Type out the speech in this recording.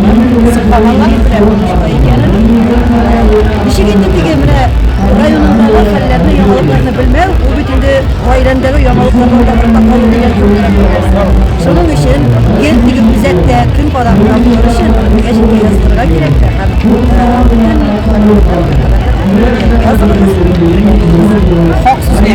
Кызыкканлар белән булышты икәнен. Ничек инде теге менә районындагы хәлләрне, яңалыкларны белмәү, ул бит инде гаиләңдәге яңалыклардан да артта калу дигән сүзләр бар. Шуның өчен гел теге үзәктә көн кадак тору өчен гәҗиткә язылырга кирәк тә һәм Хак сүзгә.